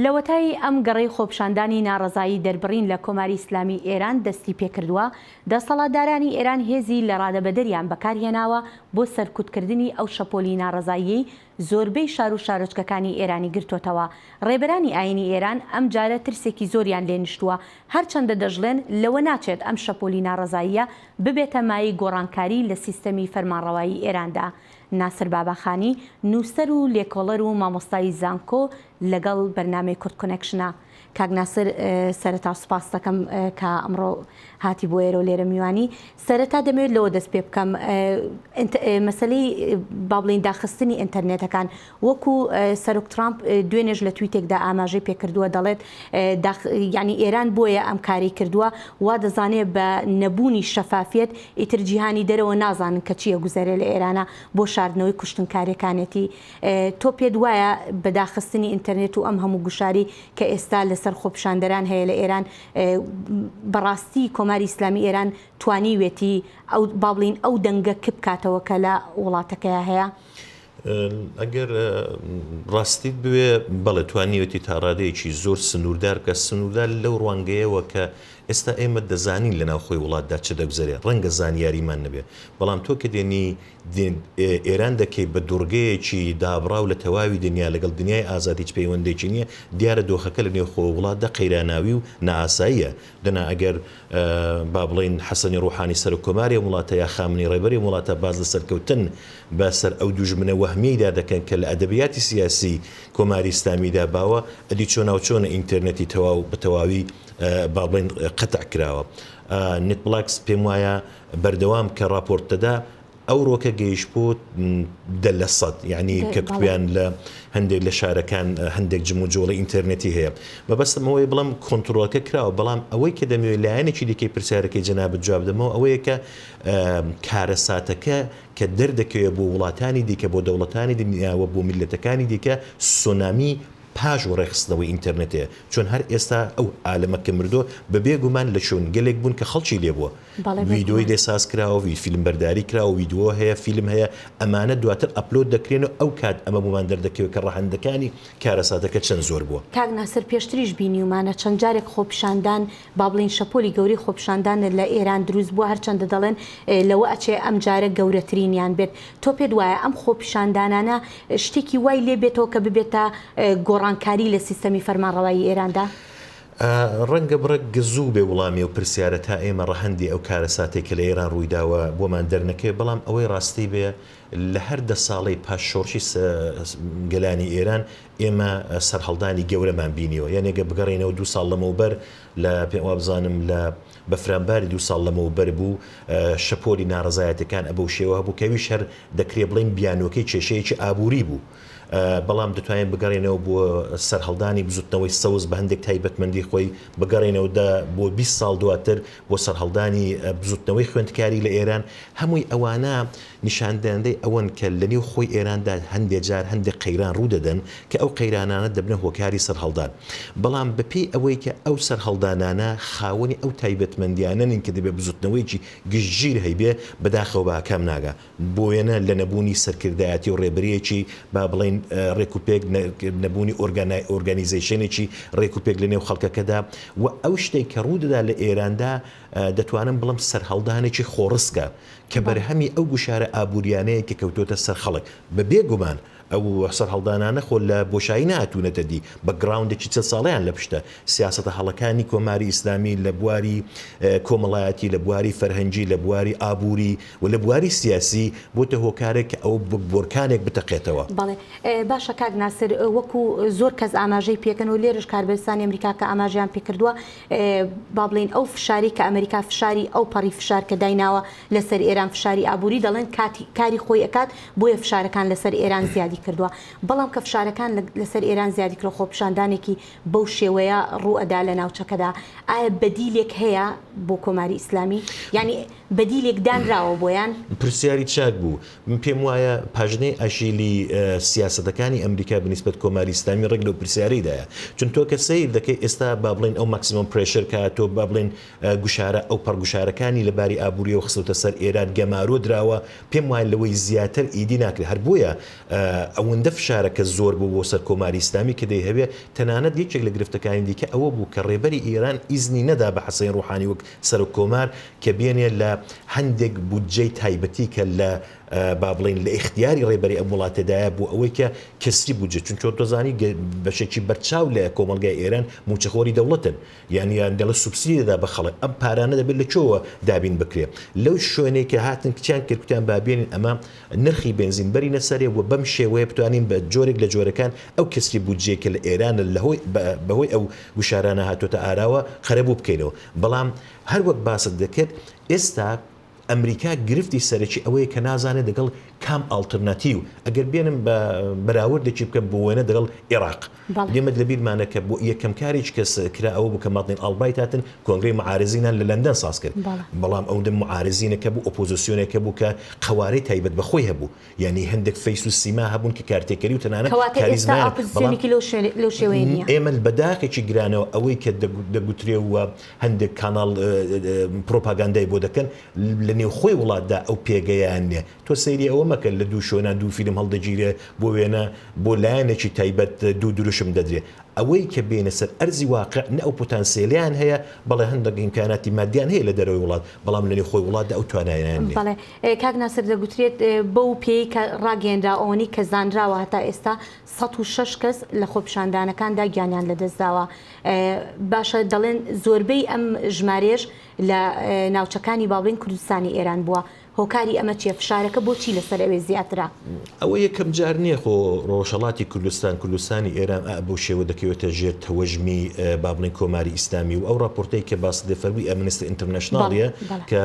لەوەتای ئەم گەڕەی خۆپشاندانی ناڕەزایی دەربڕین لە کۆماری ئیسلامی ئێران دەستی پێکردوە، دەسەڵاتدارانی ئێران هێزی لەڕادەبەدەریان بەکارهێناوە بۆ سەرکوتکردنی ئەو شەپۆلی ناڕەزاییەی زۆربەی شارو شارۆچکەکانی ئێرانی گرتۆتەوە، ڕێبەرانی ئاینی ئێران ئەمجارە ترسێکی زۆریان لێ نیشتوە، هەرچەندە دەشڵێن لەوە ناچێت ئەم شەپۆلی ناڕەزاییە ببێتە مایەی گۆڕانکاری لە سیستەمی فەرمانڕەوایی ئێراندا، ناسر باباخانی، نووسەر و لێکۆڵەر و مامۆستای زانکۆ لەگەڵ بەرنامەی کورد کۆنێکشنە. کاک ناسر سەرەتا سوپاست دەکەم کە ئەمڕۆ هاتی بۆ ئێرەو لێرە میوانی. سەرەتا دەمەوێت لەوە دەست پێ بکەم، مەسەلەی با بڵێین داخستنی ئینتەرنێتەکان، وەکو سەرۆک ترامپ دوێنێش لە تویتێکدا ئاماژەی پێکردووە دەڵێت داخ یانی ئێران بۆیە ئەم کارەی کردووە وادەزانێت بە نەبوونی شەفافیەت ئیتر جیهانی دەرەوە نازانن کە چی ئەگوزەرێ لە ئێرانا بۆ شاردنەوەی کوشتنکارێکانێتی تۆ پێت وایە بە داخستنی ئینتەرنێت و ئەم هەموو گوشاری کە ئێستا لەسەر خۆپیشاندەران هەیە لە ئێران بەڕاستی کۆماری ئیسلامی ئێران توانیوێتی ئەو با بڵین ئەو دەنگە کپ کاتەوە کە لە وڵاتەکەیە هەیە؟ ئەگەر ڕاستیت بوێ بەڵێ توانیوێتی تاڕادەیەکی زۆر سنووردار بکات، سنووردار لەو ڕوانگەیەوە کە ئێستا ئێمە دەزانین لە ناوخۆی وڵاتدا چ دەگوزەرێ، ڕەنگە زانیاریمان نەبێ، بەڵام تۆ کە دێنی ئێران دەکەی بە دوڕگەیەکی دابڕاو لە تەواوی دنیا لەگەڵ دنیای ئازاد هیچ پەیوەندێکی نییە، دیارە دۆخەکە لە نێوخۆ وڵاتدا قەیراناوی و نائاساییە، دەنا ئەگەر با بڵێین حەسەنی ڕوحانی سەرۆک کۆماری ئەم وڵاتە یا خامنەی ڕێبەری ئەم وڵاتە باس لە سەرکەوتن بە سەر ئەو دوژمنە وەهمیەیدا دەکەن کە لە ئەدەبیاتی سیاسی کۆماری ئیسلامیدا باوە ئەدی چۆناوچۆنە ئینتێرنێتی تەواو بە تەواوی با بڵێین قەتع کراوە نێتبڵاکس پێم وایە بەردەوام کە ڕاپۆرت دەدا ئەوڕۆکە گەیشت بۆ دە لە سەد یعنی کە کوێیان لە هەندێک لە شارەکان هەندێک جموجۆڵی ئینتەرنێتی هەیە مەبەستمەوەی بڵم کۆنتترۆلەکە کراوە بەڵام ئەوەی کە دەمەوێت لایەنێکی دیکەی پرسیارەکەی جەنابەت جواب دەمەوە ئەوەیە کە کارەساتەکە کە دەردەکەوێت بۆ وڵاتانی دیکە بۆ دەوڵەتانی دنیاوە بۆ میلەتەکانی دیکە سۆنامی پاش و ڕێخستنەوەی ئینتەرنێتەیە چۆن هەر ئێستا ئەو عالەمە کە مردووە بە بێگومان لە شوێنگەلێک بوون کە خەڵکی لێبووە ڤیدۆی لێ ساز کراوە وی فیلم بەرداری کراوە ویدۆ هەیە فیلم هەیە ئەمانە دواتر ئەپلۆد دەکرێن و ئەو کات ئەمە بۆمان دەردەکەوێت کە ڕەهەندەکانی کارەساتەکە چەند زۆر بووە. کاک ناسر پێشتریش بینیومانە چەند جارێک خۆپیشاندان با بڵێین شەپۆلی گەورەی خۆپیشاندان لە ئێران دروست بووە هەرچەندە دەڵێن لەوە ئەچێ ئەمجارە گەورەترینیان بێت تۆ پێت وایە ئەم خۆپیشاندانانە شتێکی وای لێ بێتەوە کە ببێتە گۆڕانکاری لە سیستەمی فەرمانڕەوایی ئێراندا؟ ڕەنگە بڕێک گزوو بێ وڵامی ئەو پرسیارە تا ئێمە ڕەهەندی ئەو کارەساتەی کە لە ئێران ڕوویداوە بۆمان دەرنەکەوێت، بەڵام ئەوەی ڕاستی بێ لە هەر دە ساڵەی پاش شۆڕشی گەلانی ئێران ئێمە سەرهەڵدانی گەورەمان بینیوە. یان ئەگەر بگەڕێینەوە دوو ساڵ لەمەوبەر لە پێم وابزانم لە بەفرانباری دوو ساڵ لەمەوبەر بوو شەپۆلی ناڕەزایەتیەکان ئەبەو شێوە هەبوو کە ئەویش هەر دەکرێ بڵێین بیانووەکەی کێشەیەکی ئابووری بوو. بەڵام دەتوانین بگەڕێینەوە بۆ سەرهەڵدانی بزوتنەوەی سەوز بە هەندێک تایبەتمەندی خۆی، بگەڕێینەوە دە بۆ بیست ساڵ دواتر بۆ سەرهەڵدانی بزوتنەوەی خوێندکاری لە ئێران، هەمووی ئەوانە نیشاندەندەی ئەوەن کە لە نێو خۆی ئێراندا هەندێ جار هەندێ قەیران ڕوو دەدەن کە ئەو قەیرانانە دەبنە هۆکاری سەرهەڵدان بەڵام بە پێی ئەوەی کە ئەو سەرهەڵدانانە خاوەنی ئەو تایبەتمەندیانە نین کە دەبێ بزوتنەوەیەکی گشتگیر هەیبێ بەداخەوە بە ئاکام ناگا. بۆوێنە لە نەبوونی سەرکردایەتی و ڕێبەریەکی با بڵێین ڕێک و پێک، نەبوونی ئۆرگانای ئۆرگانیزەیشێنێکی ڕێک و پێک لە نێو خەڵکەکەدا و ئەو شتەی کە ڕوو دەدا لە ئێراندا دەتوانم بڵێم سەرهەڵدانێکی خۆڕسکە کە بەرهەمی ئەو گوشارە ئابووریانەیە کە کەوتۆتە سەر خەڵک بە بێ گومان ئەو سەرهەڵدانانە خۆ لە بۆشایی نەهاتوونەتە دی، بەکگراوندێکی چل ساڵەیان لە پشتە، سیاسەتە هەڵەکانی کۆماری ئیسلامی لە بواری کۆمەڵایەتی، لە بواری فەرهەنگی، لە بواری ئابووری و لە بواری سیاسی بۆتە هۆکارێک کە ئەوە وەک بۆرکانێک بتەقێتەوە. بەڵێ باشە کاک ناسر، وەکو زۆر کەس ئاماژەی پێکەن و لێرەش کاربەدەستانی ئەمریکا کە ئاماژەیان پێکردووە با بڵێین ئەو فشارەی کە ئەمریکا فشاری ئەوپەڕی فشار کە دایناوە، لەسەر ئێران فشاری ئابووری دەڵێن کاتی کاری خۆی ئەکات بۆیە فشارەکان لەسەر ئێران زیادی کردووە بەڵام کە فشارەکان لەسەر ئێران زیادی کرد خۆپیشاندانێکی بەو شێوەیە ڕوو ئەدا لە ناوچەکەدا ئایا بەدیلێک هەیە بۆ کۆماری ئیسلامی یانی بەدیلێک دانراوە بۆیان؟ پرسیاری چاک بوو. من پێم وایە پاژنەی ئەژیلی سیاسەتەکانی ئەمریکا بە نیسبەت کۆماری ئیسلامی ڕێک لەو پرسیارەیدایە. چون تۆ کە سەیر دەکەی ئێستا با بڵێین ئەو ماکسیمۆم پرێشەر کە هاتووە با بڵێین، گوشارە ئەوپەڕ گوشارەکانی لە باری ئابوورییەوە خستۆتە سەر ئێران، گەمارۆ دراوە، پێم وایە لەوەی زیاتر ئیدی ناکرێ، هەر بۆیە ئەوەندە فشارەکە زۆر بوو بۆ سەر کۆماری ئیسلامی کە دەیهەوێ، تەنانەت یەکێک لە گرفتەکانی دیکە ئەوە بوو کە ڕێبەری ئێران ئیزنی نەدا بە حەسەین ڕوحانی وەک سەرۆک کۆمار کە بێنێ لە هەندێک بودجەی تایبەتی کە لە با بڵێین لە ئیختیاری ڕێبەری ئەم وڵاتەدایە بۆ ئەوەی کە کەسری بودجە چونکە تۆ زانی بەشێکی بەرچاو لە کۆمەڵگای ئێران مووچەخۆری دەوڵەتن. یان یان دەڵێ سوبسیدی دەدا بە خەڵک ئەم پارانە دەبێت لە کوێوە دابین بکرێ لەو شوێنەی کە هاتن کچیان کرد کوتیان با بێنین ئەمە نرخی بێنزین بەرینە سەرێ و بەم شێوەیە بتوانین بە جۆرێک لە جۆرەکان ئەو کەسری بودجەی کە لە ئێرانە لە هۆی بە هۆی ئەو گوشارانە هاتۆتە ئاراوە قەرەبوو بکەینەوە بەڵام هەر وەک باست دەکرد ئێستا ئەمریکا گرفتی سەرەکی ئەوەیە کە نازانێت دەگەڵ کام ئاڵترناتیو ئەگەر بێنم بە بەراوردێکی بکەم بۆ وێنە دەگەڵ ئێڕاق بەڵێ. ئێمەت لە بیرمانە کە بۆ یەکەم کاریچ کە کرا ئەوە بوو کە مادلین ئاڵبرایت هاتن کۆنگرەی معارزینان لە لەندەن ساز کرد بەڵام ئەو دە معارزینە کە بوو ئۆپۆزسیۆنێکە بوو کە قەوارەی تایبەت بە خۆی هەبوو. یانی هەندێک فەیس و سیما هەبوون کە کارتێکەری و تەنانەت کاریزمایان هەبوو، بەڵام ئێمە بە داخێکی گرانەوە ئەوەی کە دەگوترێ و هەندێک کاناڵ پرۆپاگاندای بۆ دەکەن لە نێوخۆی وڵاتدا ئەو پێگەیان نییە، تۆ سەیری ئەوە مەکە لە دوو شوێنا دوو فیلم هەڵدەگیرێ، بۆ وێنە بۆ لایەنێکی تایبەت دوو دروشم دەدرێ، ئەوەی کە بێینە سەر ئەرزی واقع نە ئەو پوتانسێلیان هەیە، بەڵێ هەندێک ئیمکاناتی مادیان هەیە لە دەرەوەی وڵات، بەڵام لە نێوخۆی وڵاتدا ئەو توانایانیان نییە. کاک ناسر دەگوترێت بەو پێیەی کە ڕاگەیەنراوە ئەوەنەی کە زانراوە هەتا ئێستا سەد و شەش کەس لە خۆپیشاندانەکاندا گیانیان لەدەستداوە باشە دەڵێن زۆربەی ئەم ژمارەیەش لە ناوچەکانی باڵوێن کوردستانی ئێران بووە هۆکاری ئەمە چیە فشارەکە بۆچی لەسەر ئەوێ زیاترە؟ ئەوە یەکەم جار نیە خۆ ڕۆژهەڵاتی کوردستان، کوردستانی ئێران ئا بەو شێوە دەکەوێتە ژێر تەوەژمی با بڵێین کۆماری ئیسلامی و ئەو ڕاپۆرتەی کە باست لێ فەرمووی ئەمنستی ئینترنەشناڵ یە کە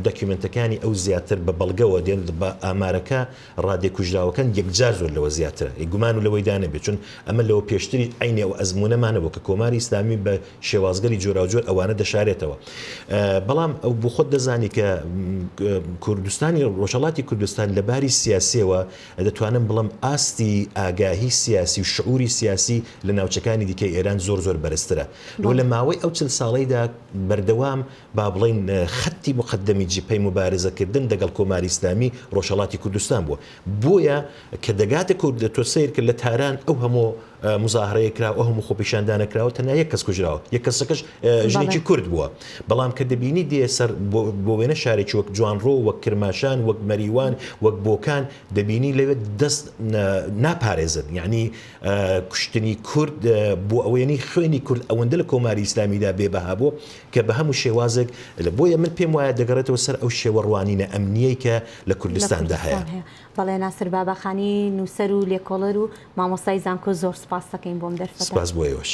دەکیومێنتەکانی ئەو زیاتر بە بەڵگەوە دێن با ئامارەکە ڕادەی کوژراوەکان یەکجار زۆر لەوە زیاترە گومان و لەوەی دا نەبێ چون ئەمە لەوە پێشتری عەینی ئەو ئەزموونەمان نەبوو کە کۆماری ئیسلامی بە شێوازگەلی جۆراوجۆر ئەوانە دەشارێتەوە. بەڵام بۆ خۆت دەزانی کە کوردستانی ڕۆژهەڵاتی کوردستان لە باری سیاسیەوە دەتوانم بڵێم ئاستی ئاگاهی سیاسی و شعوری سیاسی لە ناوچەکانی دیکەی ئێران زۆر زۆر بەرزترە. وە لە ماوەی ئەو چل ساڵەیدا بەردەوام با بڵێین خەتی موقەدەمی جبهەی موبارزەکردن دەگەڵ کۆماری ئیسلامی ڕۆژهەڵاتی کوردستان بووە بۆیە کە دەگاتە کورد تۆ سەیرکە لە تاران ئەو هەموو مزاهرەیە کراوە ئەو هەموو خۆپیشاندانە کراوە تەنیا یەک کەس کوژراوە یەک کەسەکەش ژنێکی کورد بووە بەڵام کە دەبینی دێ سەر بۆ وێنە شارێکی وەک جوانڕۆ وەک کرماشان وەک مەریوان وەک بۆکان دەبینی لەوێ دەست ناپارێزن یعنی کوشتنی کورد بۆ ئەوەیەنی خوێنی کورد ئەوەندە لە کۆماری ئیسلامیدا بێبەها بوو کە بە هەموو شێوازێک لە بۆیە من پێم وایە دەگەڕێتەوە سەر ئەو شێوە ڕوانینە ئەمنییەی کە لە لە کوردستاندا هەیە. کوردستان هەیە. بەڵێ ناسر باباخانی نووسەر و لێکۆڵەر و مامۆستای زانکۆ زۆر سوپاست دەکەین بۆم دەرفەتە. سوپاس بۆ ئێوەش.